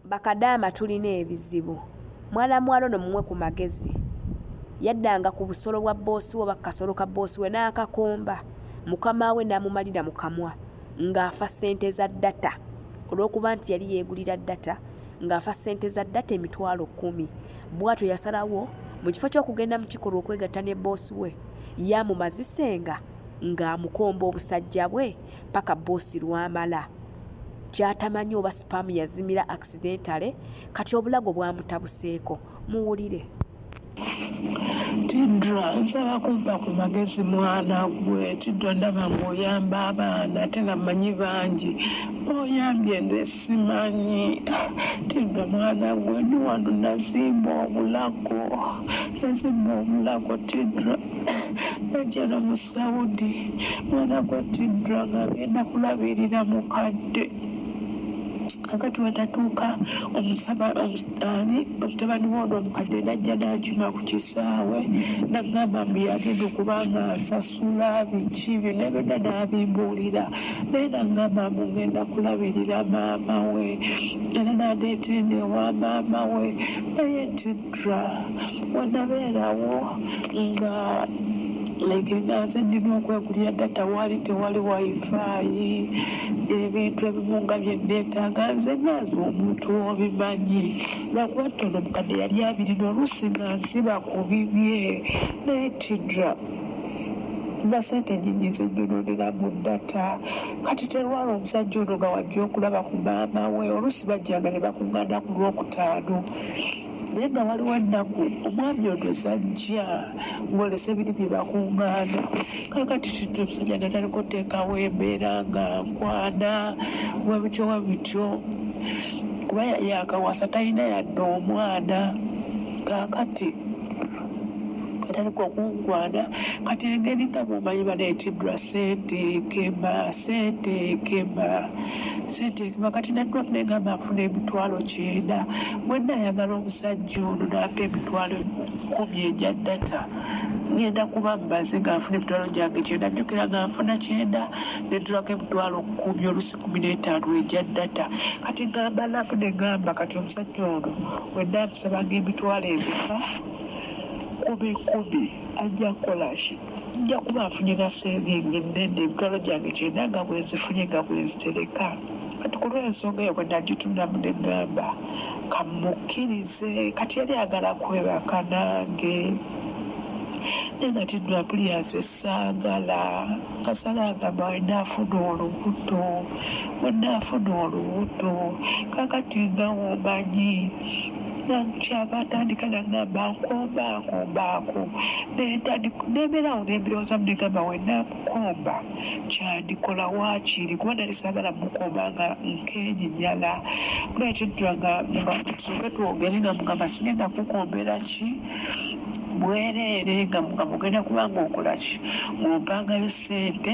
bakadaama tulina ebizibu mwana muwala ono mumwe ku magezi yaddanga ku busolo bwa boosi we bakasolo ka boosi we n'akakomba mukama we n'amumalira mu kamwa ng'afa ssente za data olw'okuba nti yali yeegulira data ng'afa ssente za data emitwalo kkumi bwatyo yasalawo mu kifo ky'okugenda mu kikolwa okwegatta ne boosi we yamumazisenga ng'amukomba obusajja bwe paka boosi lwamala gyatamanyi oba sipaamu yazimira accidentale kati obulago bwamutabuseeko muwulire tidra nsaba kumpa ku magezi mwana gwe tidra ndaba ngaoyamba abaana ate nga manyi bangi oyambye nze simanyi tidra mwana gwe ndi wano nazimba obulago nazimba obulago tidra najjana mu saudi mwana gwattiddwa nga agenda kulabirira mukadde kakati wetatuuka omusabani omutabani woono omukadde najja nakima ku kisaawe nagamba mbu yagenda okuba nga asasula biki byona byona nabimbuulira naye nagamba mbu ngenda kulabirira maama we era nadeeta eno ewa maama we naye nti Tra wanabeerawo nga like nga nze nnina okwegulira data waali tewali wifaayi ebintu ebimu nga bye nneetaaga nze nga nze omuntu obimanyi lwakuba ttono mukadde yali abirina oluusi nga nsiba ku bibye naye tidra nga sente nyingi zenyononera mu data kati terwala omusajja ono nga wajja okulaba ku maama we oluusi bajjanga ne bakuŋŋaana ku lwokutaano naye nga waliwo ennaku omwami ono zajja ng'olesa ebiri bye bakuŋŋaana kakati kintu omusajja nataliko oteekawo embeera nga nkwana we bityo we bityo kuba yakawasa talina yadde omwana kakati atandika okunkwana kati engeri nga mumanyi banaetidwa sente kemba sente kemba sente ekuba kati naddwa negamba afuna emitwalo kyenda bwenna ayagala omusajja ono nampa emitwalo kumi egya data ngenda kuba mbaze ngaafuna emitwalo gyange kyenda jjukira ngaanfuna kyenda nentulako emitwalo kumi olusi kumi n'etaano egya data kati ngamba naku negamba kati omusajja ono wenna amusabanga emitwalo emeka kumi kumi ajja kukolaki nja kuba nfunye na sente nge nnene emitwalo gyange kyenda nga bwenzifunye nga bwenzitereka kati ku lw'ensonga eyo bwe nagitundamu ne ŋŋamba kamukkirize kati yali agala kwebaka nange naye nga tinnapuliyanse saagala kasala agamba wenaafuna olubuto wenaafuna olubuto kakati nga womanyi kyankyava atandika nagamba nkomba nkomba ako nebeerawo nembirowooza mu negamba wenamukomba kyandikola wakiiri kuba nali sagala mukomba nga nkenyinyala nekitula nga soke twogere nga mugamba sigenda kukombera ki bwereere nga mugamba ogenda kubanga okola ki ngompangayo sente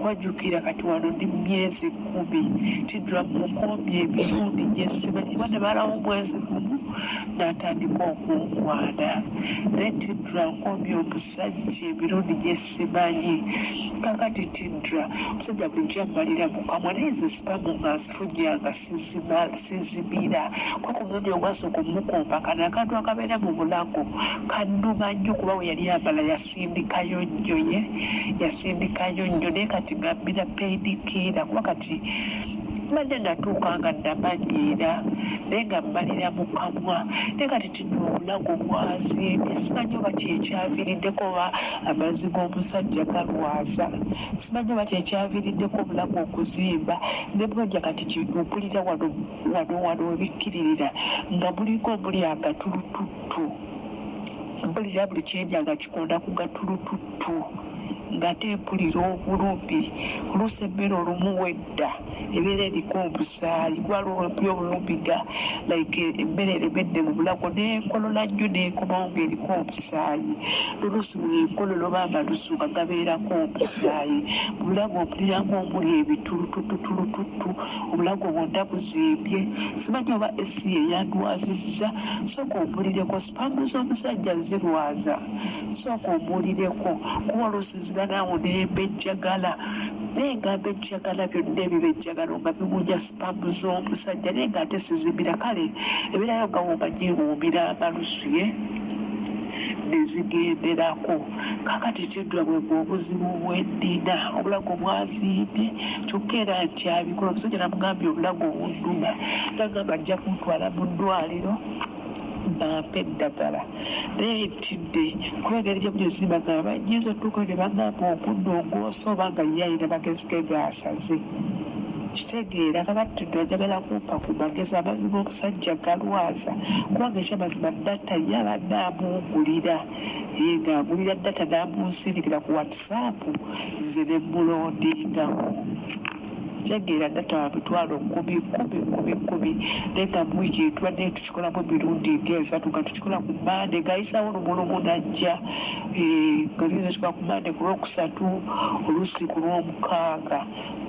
Kuba jukira kati wano ndi myezi kumi tidra mukombye emirundi gyesimanyi kuba nebalawo omwezi gumu natandika okunkwana naye tidra nkombye omusajja emirundi gyesimanyi kakati tidra omusajja bulijjo amalira mukamwa naye nze sipamu nga nzifujja nga sizimira kwa ku mulundi ogwasooka omukomba kano akantu akabeera mu bulago kanuma nnyo kuba we yali amala yasindikayo nnyo ye yasindikayo nnyo naye kati ngambira paidikiira kuba kati mbadde natuuka nga namanyiira naye nga mmalira mu kamwa naye kati kino obulago bwazimbye simanyi oba kyekyaviriddeko oba amazzi g'omusajja galwaza simanyi oba kyekyaviriddeko obulago okuzimba ne bwolya kati kino mpulira wano wano wano webikkiririra nga mulinga omuli agatulutu tu mpulira buli kyendya nga kikonda ku gatulututtu ngate mpulira obulumi oluusi emmere olumu wedda ebeera eriko omusaayi kubala olwempulira obulumi nga like emmere eremedde mu bulago nenkolola nnyo nenkomawo ngaeriko omusaayi noluusi wenkolola oba amalusu nga gabeerako omusaayi mu bulago mpuliramu omuli ebitulutututulututtu obulago bwonna buzimbye simanyi oba esi yeyandwazizza Sooka ompulireko, sperm z'omusajja zirwaza. Sooka ombuulireko kuba oluusi nzira naawe ne mbejjagala. Naye nga mbejjagala byonna ebibejjagalo nga biwunya sperm z'omusajja naye nga ate sizimira kale ebeerayo nga bw'omanyi ewuumira amalusu ye ne zigenderako. Kaakati kiddwabwe gwe obuzibu bwe nnina obulago bwazimbye kyokka era nkyabikola. Omusajja namugambye obulago bunnuma nangamba ajja kuntwala mu ddwaliro bampe eddagala naye ntidde kuba engeri gye muli zimba nga banyinza otuukayo ne bagamba ogunno ogwosa oba nga ye alina magezi ge gaasaze kitegeera kakati no njagala kumpa ku magezi amazima omusajja galwaza kubanga ekyamazima data ye abadde amuwugulira yega agulira data namunsindikira ku whatsapp nze ne mulondingamu ntegeera data wa mitwalo kumi kumi kumi kumi naye nga mu wiiki tubadde tukikolamu emirundi ng'esatu nga tukikola ku mande ng'ayisaawo lumulumu najja eh, nga luyinza kikola ku mande ku lwokusatu oluusi ku lwomukaaga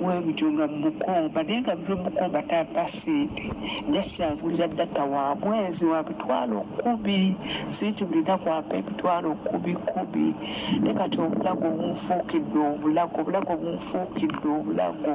webityo nga mukomba naye nga bimukomba taata sente just agulira data wa mwezi wa bitwalo kumi sente buli naku ampa ebitwalo kumi kumi naye kati obulago bunfuukidde obulago obulago bunfuukidde obulago